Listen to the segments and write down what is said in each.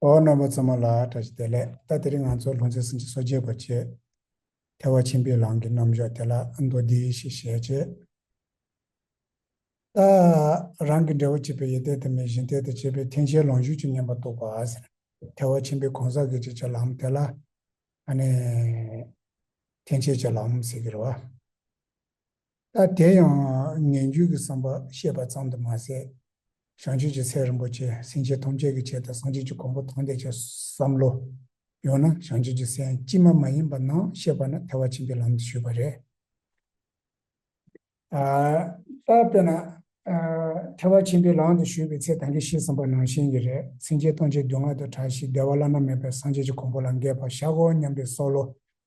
ཨོ་རྣམ་པ་ཚང་མ་ལ་བཀྲ་ཤིས་བདེ་ལེགས་ད་དེ་རིང་ང་ཚོ་ལྷུང་བཟེད་སྲིན་བྱ་སོ་རྒྱས་པར་བྱེད། ཐལ་བ་ཆེན་པོའི་ལམ་གྱི་རྣམ་གཞག་དེ་ལ་མདོ་སྡེ་ཞེས་བཤད། ཅེས་ད་རང་གི་འབྲས་བུ་གཅིག་པའི་ཡེ་གཏད་དུ་མའི་གཞི་འཐད་དུ་བྱས་པའི་མཐུན་བྱའི་ལོངས་སྤྱོད་ཀྱི་བསྙེན་པ་རྟོགས་པ། ཐལ་བ་ཆེན་པོའི་གང་ཟག་གི་བྱེད་བྱ་ལམ་དེ་ལ། མཐུན་བྱེད་ཀྱི་ལམ་ཟེར་གྱི་རེད། ད་དེ་ཡང་ངན་སྐྱུགས་ཀྱི་བསམ་པ་ཤེས་པ་ཙམ་དུ་མ་ཟད། བྱང་ཆུབ་ཀྱི་སེམས་རིན་པོ་ཆེ་སེམས་ཅན་ཐམས་ཅད་ཀྱི་ཆེད་དུ་སངས་རྒྱས་ཀྱི་གོང་བུ་དང་ལྡན་ཆེད་བསམ་བློ། ཡང་ན་བྱང་ཆུབ་ཀྱི་སེམས་ཅི་མ་མ་ཡིན་པ་རྣམས་བཤད་པ་ནི་ཐལ་བ་ཆེན་པོའི་ལམ་དུ་ཞུགས་པ་རེད། ད་དཔེར་ན། ཐལ་བ་ཆེན་པོའི་ལམ་དུ་ཞུགས་པའི་ཚེ་ད་གིན་ཤེས་བསམ་པ་ནང་བཞིན་གྱི་རེད་སེམས་ཅན་སྟོང་ཆའི་སྡུག་བསྔལ་དུ་གྲགས་ཤིང་བདེ་བ་བླ་ན་མེད་པའི་སངས་རྒྱས་ཀྱི་གོང་བུ་ལ་འགས་པར་བཞག་གོ་སྙམ་པའི་བསོག་བློ་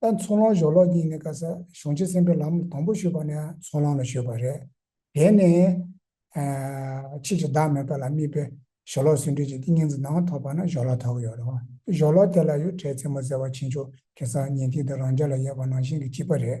ད་ཚོགས་ལོངས་ཞོག་ལོག་གཉིས་ནས་བཀའ་ཟ་གཞུང་ཆེན་གསན་པའི་ལམ་དང་པོ་ཞུས་པ་ནས་ཚོགས་ལོངས་ལ་ཞུས་པ་རེད། དེ་ནས། ཕྱིས་ཀྱི་བདག་མེད་པ་ལ་དམིགས་པའི་ཞོ་ལོག་ཟུང་འབྲེལ་གྱི་ཏིང་ངེ་འཛིན་ནང་ཐོག་པ་ན་ཞོ་ལོག་ཐོག་ཡོད་རེད། ཞོ་ལོག་དེ་ལ་ཡོད་བྲལ་རྩེ་མོ་ཟེར་བ་ཕྱིན་ཆོག་གེ་སར་ཉན་ཐིག་དེ་རང་རྒྱ་ལ་ཡོད་པ་ནང་བཞིན་གྱི་སྤྱི་པ་རེད།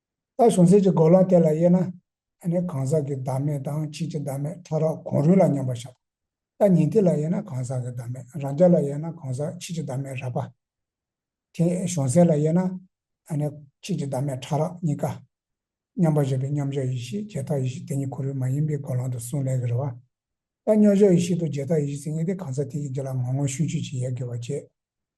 ད་གཞུང་ཚིག་གི་འགོ་ལམ་དེ་ལ་དབྱེ་ན། གང་ཟག་གི་བདག་མེད་དང་ཕྱིན་ཅི་བདག་མེད་ཕྲ་རགས་གོང་རུལ་ལ་མཉམ་པར་བཞག་པ། ད་ཉན་ཐོས་ལ་དབྱེ་ན་གང་ཟག་གི་བདག་མེད་རང་རྒྱ་ལ་དབྱེ་ན་གང་ཟག་ཕྱིན་ཅི་བདག་མེད་རགས་པ། དེ་གཞུང་ཚིག་ལ་དབྱེ་ན། ཕྱིན་ཅི་བདག་མེད་ཕྲ་རགས་གཉིས་ཀ། མཉམ་པར་བཞག་པའི་མཉམ་བཞག་ཡེ་ཤེས་རྗེས་དག་ཡེ་ཤེས་དེ་ཉིད་གོ་རིམ་མ་ཡིན་པའི་འགོ་ལམ་དུ་གསུངས་ལས་ཀྱི་རེ་བ། ད་མཉམ་བཞག་ཡེ་ཤེས་དང་རྗེས་དག་ཡེ་ཤེས་ཚིག་ངེས་དེ་གང་ཟག་དེ་ཡིན་གྱི་ལ་ངོ་ངོ་ཤུགས་ཆོད་ཅིག་ཡལ་དགོས་པ་བཅས།